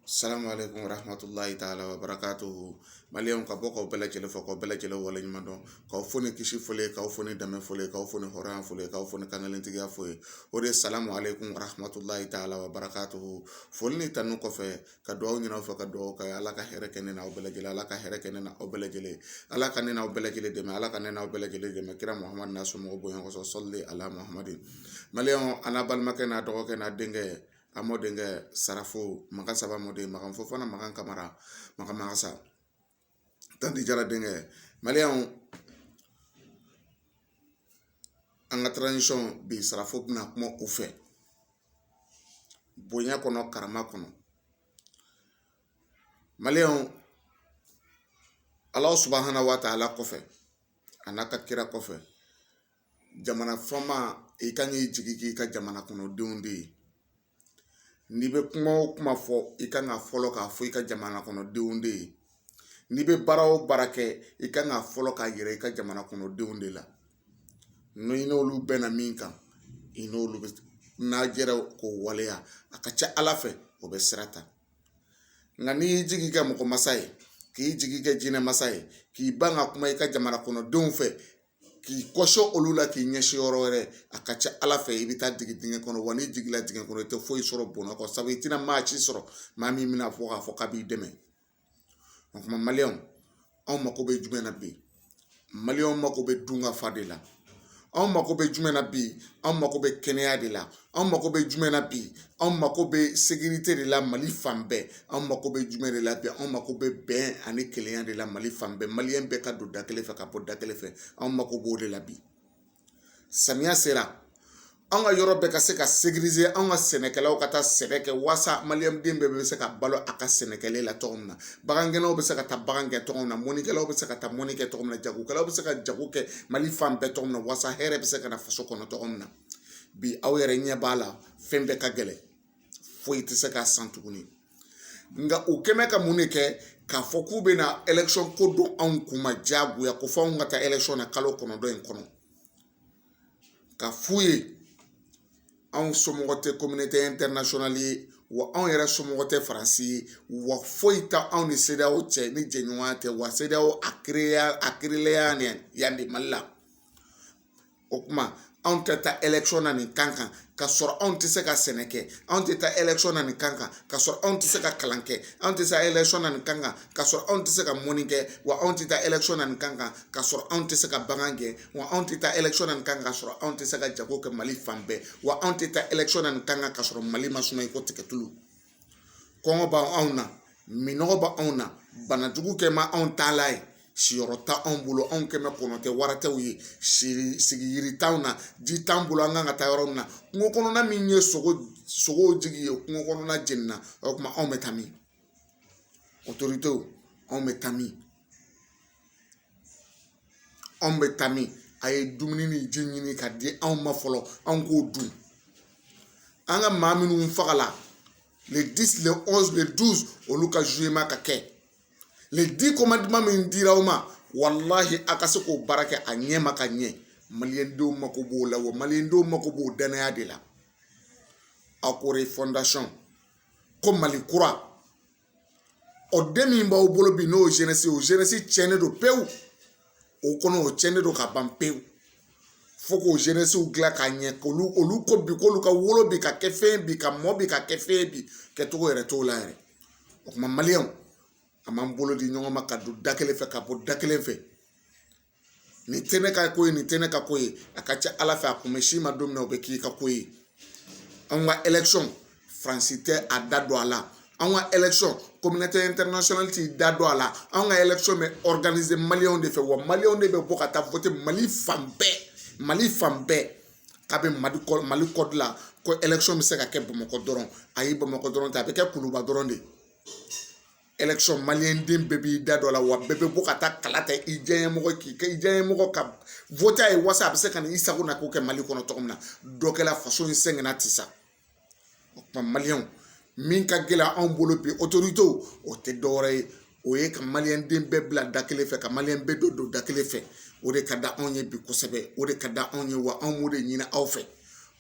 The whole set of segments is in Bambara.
Salamu alaikum warahmatullahi taala wabarakatuhu Maliyɛnw ka bɔ k'aw bɛɛ lajɛlen fo k'aw bɛɛ lajɛlen waleɲuman dɔn k'aw fo ni kisi fɔlen ye k'aw fo ni dɛmɛ fɔlen ye k'aw fo ni hɔrɔnya fɔlen ye k'aw fo ni kankelentigiya fɔlen ye o de ye salamu alaikum warahmatullahi taala wabarakatuhu foli ni tanu kɔfɛ ka dugawu ɲini aw fɛ ka dugawu kɛ Ala ka hɛrɛ kɛ ne n'aw bɛɛ lajɛlen Ala ka hɛrɛ kɛ ne n'aw bɛɛ lajɛlen Ala ka ne n'aw bɛɛ lajɛlen dɛmɛ Ala ka ne n'aw bɛɛ lajɛlen dɛmɛ kira Muhamadu n'a somɔgɔw bonya kɔsɔn sɔli ala Muhamadu Maliyɛnw an n'a balimakɛ n'a dɔgɔkɛ n'a denkɛ A mɔdenkɛ sarafo makan saba mɔden makan fofana makan kamara makan magasa tanti jara denkɛ maliyɛnw an ka taransisɔn bi sarafo bɛna kuma u fɛ bonya kɔnɔ karama kɔnɔ maliyɛnw ala subahana wa taala kɔfɛ a n'a ka kira kɔfɛ jamana fama i kan k'i jigi k'i ka jamana kɔnɔ denw de ye n'i bɛ kuma o kuma fɔ i kan ka fɔlɔ k'a fɔ i ka jamana kɔnɔ denw de ye n'i bɛ baara o baara kɛ i kan ka fɔlɔ k'a yira i ka jamana kɔnɔ denw de la n'i n'olu bɛnna min kan i n'olu bɛɛ n'a jɛra k'o waleya a ka ca ala fɛ o bɛ sira ta nka n'i y'i jigi kɛ mɔgɔ masa ye k'i jigi kɛ jinɛ masa ye k'i ban ka kuma i ka jamana kɔnɔ denw fɛ k'i kɔsɔn olu la k'i ɲɛsin yɔrɔ wɛrɛ a ka ca ala fɛ i bɛ taa digi dingɛ kɔnɔ wa n'i jiginla dingɛ kɔnɔ i tɛ foyi sɔrɔ bɔnɛ kɔ sabu i tɛna maa ci sɔrɔ maa min bɛna fɔ k'a fɔ k'a b'i dɛmɛ o kuma maliyɛnw anw mako bɛ jumɛn na bi maliyɛnw mako bɛ dun ka fa de la anw mako bɛ jumɛn na bi anw mako bɛ kɛnɛya de la anw mako bɛ jumɛn na bi anw mako bɛ sekirite de la mali fan bɛɛ anw mako bɛ jumɛn de la bi anw mako bɛ bɛn ani kelenya de la mali fan bɛɛ maliyɛn bɛɛ ka don da kelen fɛ ka bɔ da kelen fɛ anw mako b'o de la bi samiya sera anw ka yɔrɔ bɛɛ ka se ka sekirize anw ka sɛnɛkɛlaw ka taa sɛnɛ kɛ walasa maliyɛnden bɛɛ bɛ se ka balo a ka sɛnɛkɛlen la cogo min na bagangɛnnaw bɛ se ka taa bagan kɛ cogo min na mɔnikɛlaw bɛ se ka taa mɔni kɛ cogo min na jagokɛlaw bɛ se ka jago kɛ mali fan bɛɛ cogo min na walasa hɛrɛ bɛ se ka na faso kɔnɔ cogo min na bi aw yɛrɛ ɲɛ b'a la fɛn bɛɛ ka gɛlɛn foyi tɛ se ka san tuguni nka u kɛmɛ ka mun de kɛ k'a fɔ k'u bɛna ɛlɛkisɔn ko don anw kun ma diyagoya ko fɔ anw ka taa ɛlɛkisɔn na kalo kɔnɔntɔn in kɔnɔ ka f'u ye anw somɔgɔ tɛ kominote ɛntɛrinasiyɔnali ye wa anw yɛrɛ somɔgɔ tɛ faransi ye wa foyi tɛ anw ni sedeyaw cɛ ni jɛɲɔgɔnya tɛ wa sedeyaw a kireyela yan de mali la o kuma anw tɛ taa ɛlɛkisɔn na nin kan kan ka sɔrɔ anw tɛ se ka sɛnɛ kɛ anw tɛ taa ɛlɛkisɔn na nin kan kan ka sɔrɔ anw tɛ se ka kalan kɛ anw tɛ se ɛlɛkisɔn na nin kan kan ka sɔrɔ anw tɛ se ka mɔni kɛ wa anw tɛ taa ɛlɛkisɔn na nin kan kan ka sɔrɔ anw tɛ se ka bagan gɛn wa anw tɛ taa ɛlɛkisɔn na nin kan ka sɔrɔ anw tɛ se ka jago kɛ mali fan bɛɛ wa anw tɛ taa ɛlɛkisɔn na nin kan kan ka sɔrɔ mali ma suma i ko tigɛ tulu kɔngɔ b'anw na minnɔgɔ bɛ anw na banajugu kɛ ma anw taalan ye siyɔrɔ t'anw bolo anw kɛmɛ kɔnɔ tɛ wara tɛw ye sigiyiri t'anw na ji t'an bolo an kan ka taa yɔrɔ min na kungo kɔnɔna min ye sogow jigi ye kungo kɔnɔna jenina o kuma anw bɛ taa min otoritew anw bɛ taa min anw bɛ taa min a ye dumuni ni ji ɲini ka di anw ma fɔlɔ anw k'o dun an ka maa minnu fagala le 10 le 11 le 12 olu ka jugement ka kɛ les 10 commandements min dira aw ma walahi a ka se k'o baara kɛ a ɲɛ ma ka ɲɛ maliyɛndenw mako b'o la wa maliyɛndenw mako b'o danaya de la a ko refondation ko mali kura ɔ den min b'aw bolo bi n'o ye zɛnɛsi o zɛnɛsi tiɲɛnen don pewu o kɔnɔ o tiɲɛnen don ka ban pewu fo k'o zɛnɛsiw dilan ka ɲɛ k'olu olu ko bi k'olu ka wolo bi ka kɛ fɛn bi ka mɔ bi ka kɛ fɛn bi kɛcogo yɛrɛ t'o la yɛrɛ o kuma maliyɛnw an b'an bolo di ɲɔgɔn ma ka don da kelen fɛ ka bɔ da kelen fɛ nin tɛ ne ka ko ye nin tɛ ne ka ko ye a ka ca ala fɛ a kun bɛ s'i ma don min na o bɛ k'i ka ko ye an ka élection faransi tɛ a da don a la an ka élection communauté internationale t'i da don a la an ka élection bɛ organiser maliyɛnw de fɛ wa maliyɛnw de bɛ bɔ ka taa voter mali fan bɛɛ mali fan bɛɛ k'a bɛ mali kɔ mali kɔdi la ko élection bɛ se ka kɛ bamakɔ dɔrɔn ayi bamakɔ dɔrɔn tɛ a bɛ kɛ kuluba dɔrɔn de ye den bɛɛ b'i da don a la wa bɛɛ bɛ bɔ ka taa kala ta i diyaɲɛmɔgɔ k'i kɛ i diyaɲɛmɔgɔ ka voter a ye walasa a bɛ se ka na i sago na ko kɛ mali kɔnɔ cogo min na dɔ kɛra faso in sɛgɛnna ten sa o kuma maliyɛnw min ka gɛlɛn anw bolo bi otoritew o tɛ dɔwɛrɛ ye o ye ka maliyɛn den bɛɛ bila da kelen fɛ ka maliyɛn bɛɛ don don da kelen fɛ o de ka di anw ye bi kosɛbɛ o de ka di anw ye wa anw b'o de ɲini aw fɛ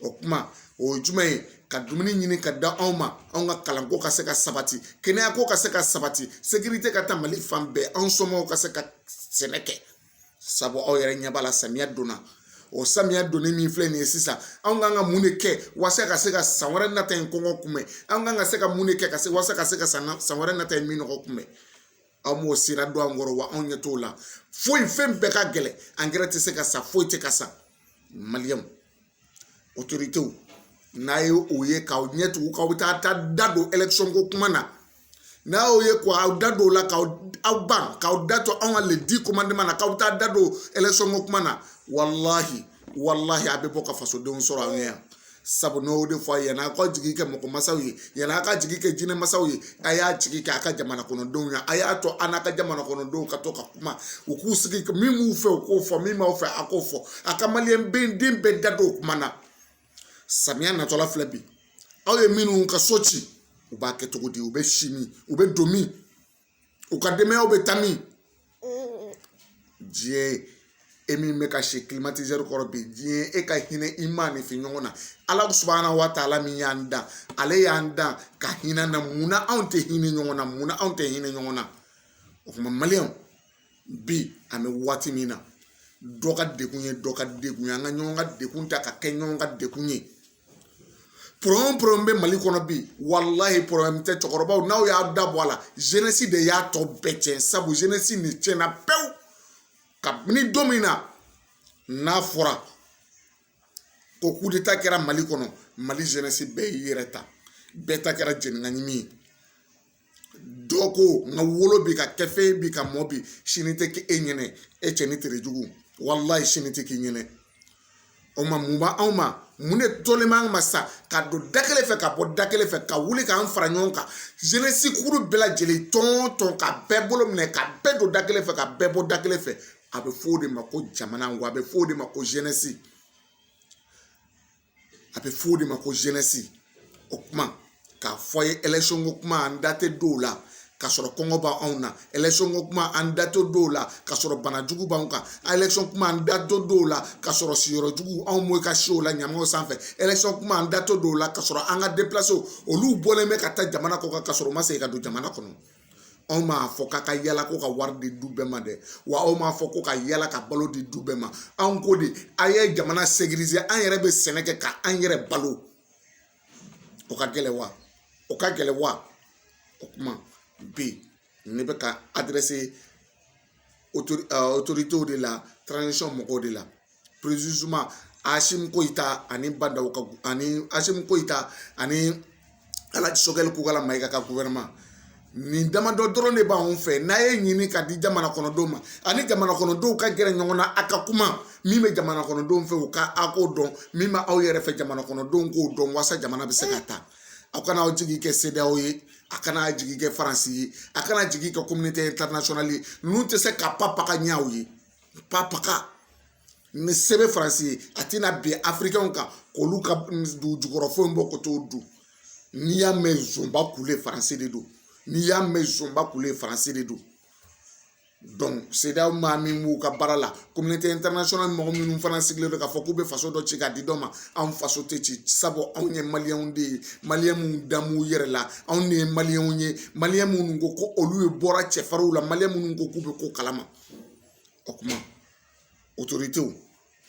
o kuma o ye jumɛn ye ka dumuni ɲini ka di anw ma anw ka kalanko ka se ka sabati kɛnɛyako ka se ka sabati sekirite ka taa mali fan bɛɛ anw somɔgɔw ka se ka sɛnɛ kɛ sabu aw yɛrɛ ɲɛ b'a la samiya donna o samiya donni min filɛ nin ye sisan anw kan ka mun de kɛ walasa ka se ka san wɛrɛ nata in kɔngɔ kunbɛn an kan ka se ka mun de kɛ ka se walasa ka se ka san san wɛrɛ nata in minnɔgɔ kunbɛn aw m'o sira don an kɔrɔ wa anw ɲɛ t'o la foyi fɛn bɛɛ ka gɛlɛn angɛrɛ tɛ se ka san foyi tɛ ka san maliyɛnw otoritew n'a ye o ye k'aw ɲɛ tugu k'aw bɛ taa taa da don élection ko kuma na n'a y'o ye ko aw da don o la k'aw aw ban k'aw da to anw ka les 10 commandements na k'aw bɛ taa da don élection ko kuma na walahi walahi a bɛ bɔ ka fasodenw sɔrɔ aw ɲɛ yan sabu n'o de fɔ a ye yan'a ka jigi kɛ mɔgɔ mansaw ye yanni a ka jigi kɛ jinɛ mansaw ye a y'a jigi kɛ a ka jamana kɔnɔdenw ye a y'a to an n'a ka jamana kɔnɔdenw ka to ka kuma u k'u sigi min b'u fɛ u k'o fɔ min b'aw fɛ a k'o fɔ a ka maliyɛn den den bɛɛ da don o kuma na samiya natɔla filɛ bi aw ye minnu ka so ci u b'a kɛ cogo di u bɛ si min u bɛ don min u ka denbayaw bɛ taa min diɲɛ e min bɛ ka si kilimatizɛri kɔrɔ bi diɲɛ e ka hinɛ i maaninfin ɲɔgɔn na ala subahana wa taala min y'an dan ale y'an dan ka hinɛ an na munna anw tɛ hinɛ ɲɔgɔn na munna anw tɛ hinɛ ɲɔgɔn na o kuma maliyɛnw bi an bɛ waati min na dɔ ka degun ye dɔ ka degun ye an ka ɲɔgɔn ka degun ta ka kɛ ɲɔgɔn ka degun ye pɔrɔbulɛmu pɔrɔbulɛmu bɛ mali kɔnɔ bi walahi pɔrɔbulɛmu tɛ cɛkɔrɔbaw n'aw y'a da bɔ a la zenesi de y'a tɔ bɛɛ tiɲɛ sabu zenesi nin tiɲɛna pewu kabini don min na n'a fɔra ko kudeta kɛra mali kɔnɔ mali zenesi bɛɛ y'i yɛrɛ ta bɛɛ ta kɛra jenikaɲimi ye dɔ ko n ka wolo bi ka kɛ fɛn bi ka mɔ bi sini tɛ kɛ e ɲɛnɛ e cɛnin tere jugu walayi sini tɛ k'i ɲɛnɛ o ma mun b'anw ma mun de tolen b'an ma sa ka don da kelen fɛ ka bɔ da kelen fɛ ka wuli k'an fara ɲɔgɔn kan zenesi kuru bɛɛ lajɛlen tɔn tɔn ka bɛɛ bolo minɛ ka bɛɛ don da kelen fɛ ka bɛɛ bɔ da kelen fɛ a bɛ fɔ o de ma ko jamana wa a bɛ fɔ o de ma ko zenesi a bɛ f'o de ma ko zenesi o kuma k'a fɔ ye elɛkisiyɔn ko kuma an da tɛ don o la ka sɔrɔ kɔngɔ b'anw na elɛkisiyɔn ko kuma an da tɛ don o la ka sɔrɔ bana jugu b'anw kan elɛkisiyɔn kuma an da tɛ don o la ka sɔrɔ siyɔrɔ jugu anw mɔgɔw bɛ ka si o la ɲamanw sanfɛ elɛkisiyɔn kuma an da tɛ don o la ka sɔrɔ an ka deplasew olu bɔlen bɛ ka taa jamana kɔ kan ka sɔrɔ u ma segin ka don jamana kɔnɔ anw m'a fɔ k'a ka yala ko ka wari di du bɛɛ ma dɛ wa anw m'a fɔ ko ka yala ka balo di du bɛɛ ma anw ko de a ye jamana sekirize an yɛrɛ bɛ sɛnɛ kɛ ka an yɛrɛ balo o ka gɛlɛn wa o ka gɛlɛn wa o kuma bi ne bɛ ka adrɛse otoritew de la tranzisɔn mɔgɔw de la asimi goyita ani ba ndaw ka ani asimi goyita ani alaji sogɛli kokala mayiga ka guwɛrɛnɛman nin damadɔ dɔrɔn de b'anw fɛ n'a ye ɲini ka di jamana kɔnɔdenw ma ani jamana kɔnɔdenw ka gɛrɛ ɲɔgɔn na a ka kuma min bɛ jamana kɔnɔdenw fɛ u ka a k'o dɔn min bɛ aw yɛrɛ fɛ jamana kɔnɔdenw k'o dɔn walasa jamana bɛ se ka taa aw kana aw jigi kɛ sedeyawo ye a kana jigi kɛ faransi ye a kana jigi kɛ kominite intarinasiyɔnali ye ninnu tɛ se ka papa ka ɲɛ aw ye papaka ni se bɛ faransi ye a tɛna bin afirikɛnw kan k'olu ka dugu jukɔrɔ fɛnw bɔ ka t'o dun n'i y'a mɛn zonba kule faransi de don n'i y'a mɛn zonba kule faransi de don sedaw maa min b'u ka baara la kominote ɛntɛrinasiyɔnal mɔgɔ minnu fana sigilen don k'a fɔ k'u bɛ faso dɔ ci k'a di dɔ ma anw faso tɛ ci sabu anw ye maliyɛnw de ye maliyɛn minnu dan b'u yɛrɛ la anw de ye maliyɛnw ye maliyɛn minnu ko ko olu ye bɔra cɛfarinw la maliyɛn minnu ko k'u bɛ ko kalama o kuma otoritew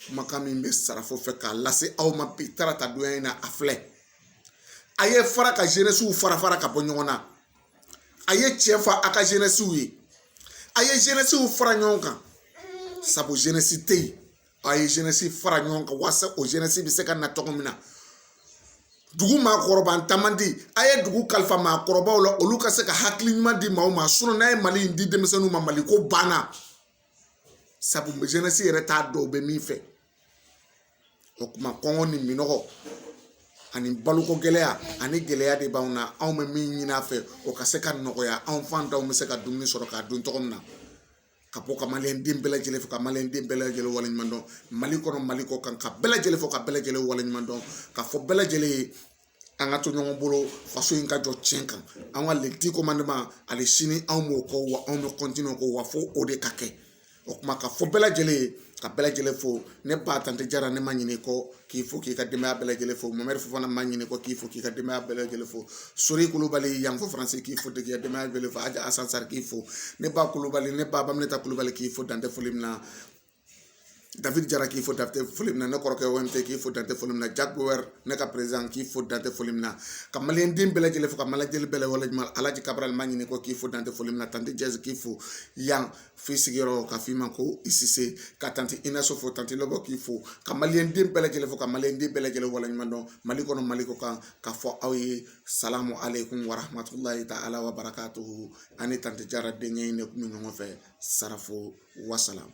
kumakan min bɛ sarafo fɛ k'a lase aw ma bi tarata donya in na a filɛ a ye fara ka jenɛsiw fara fara ka bɔ ɲɔgɔn na a ye tiɲɛ fɔ a ka jenɛsiw ye a ye jenɛsiw fara ɲɔgɔn kan sabu jenɛsi tɛ yen a ye zenɛsi fara ɲɔgɔn kan walasa o zenɛsi bɛ se ka na cogo min na dugu maakɔrɔbantan man di a ye dugu kalifa maakɔrɔbaw la olu ka se ka hakili ɲuman di maaw ma sinɔn n'a ye mali in di denmisɛnninw ma mali ko banna sabu zenɛsi yɛrɛ t'a dɔn u bɛ min fɛ o kuma kɔngɔ ni minɔgɔ ani baloko gɛlɛya ani gɛlɛya de b'anw na anw bɛ min ɲini a fɛ o ka se ka nɔgɔya anw fantanw bɛ se ka dumuni sɔrɔ k'a dun cogo min na ka bɔ ka maliyɛn den bɛɛ lajɛlen fo ka maliyɛn den bɛɛ lajɛlen waleɲuman dɔn mali kɔnɔ mali kɔ kan ka bɛɛ lajɛlen fo ka bɛɛ lajɛlen waleɲuman dɔn k'a fɔ bɛɛ lajɛlen ye an ka to ɲɔgɔn bolo faso in ka jɔ tiɲɛ kan an ka les dix commandements hali sini anw b'o kɔ wa anw bɛ kɔntiniye ko wa fo o de ka kɛ o kuma k'a fɔ bɛɛ lajɛlen ye ka bɛɛ lajɛlen fo ne ba tante jara ne ma ɲinɛ i kɔ k'i fo k'i ka denbaya bɛɛ lajɛlen fo mamadi fofana ma ɲinɛ i kɔ k'i fo k'i ka denbaya bɛɛ lajɛlen fo sori kulubali yan fo faransi k'i fo k'i ka denbaya bɛɛ fo aja asan sari k'i fo ne ba kulubali ne ba baminata kulubali k'i fo dan tɛ foli min na david jara k'i fo dan tɛ foli min na ne kɔrɔkɛ omt k'i fo dan tɛ foli min na jack bauer ne ka président k'i fo dan tɛ foli min na ka maliyɛn den bɛɛ lajɛlen fo ka maliyɛn bɛɛ lajɛlen alaji kabarali ma ɲinɛ i kɔ k'i fo dan tɛ foli min na tante jɛsi k'i fo yan f'i sigiyɔrɔ ka f'i ma ko i sise ka tanti ina so fo tanti lɔbɔ k'i fo ka maliyɛn den bɛɛ lajɛlen fo ka maliyɛn den bɛɛ lajɛlen waleɲuman dɔn mali kɔnɔ mali kɔ kan k'a fɔ aw ye salamu aleykum warahmatulahi ta ala wa barakatuhu ani tanti jara denkɛ in de kun bɛ ɲɔgɔn fɛ sarafo wasalamu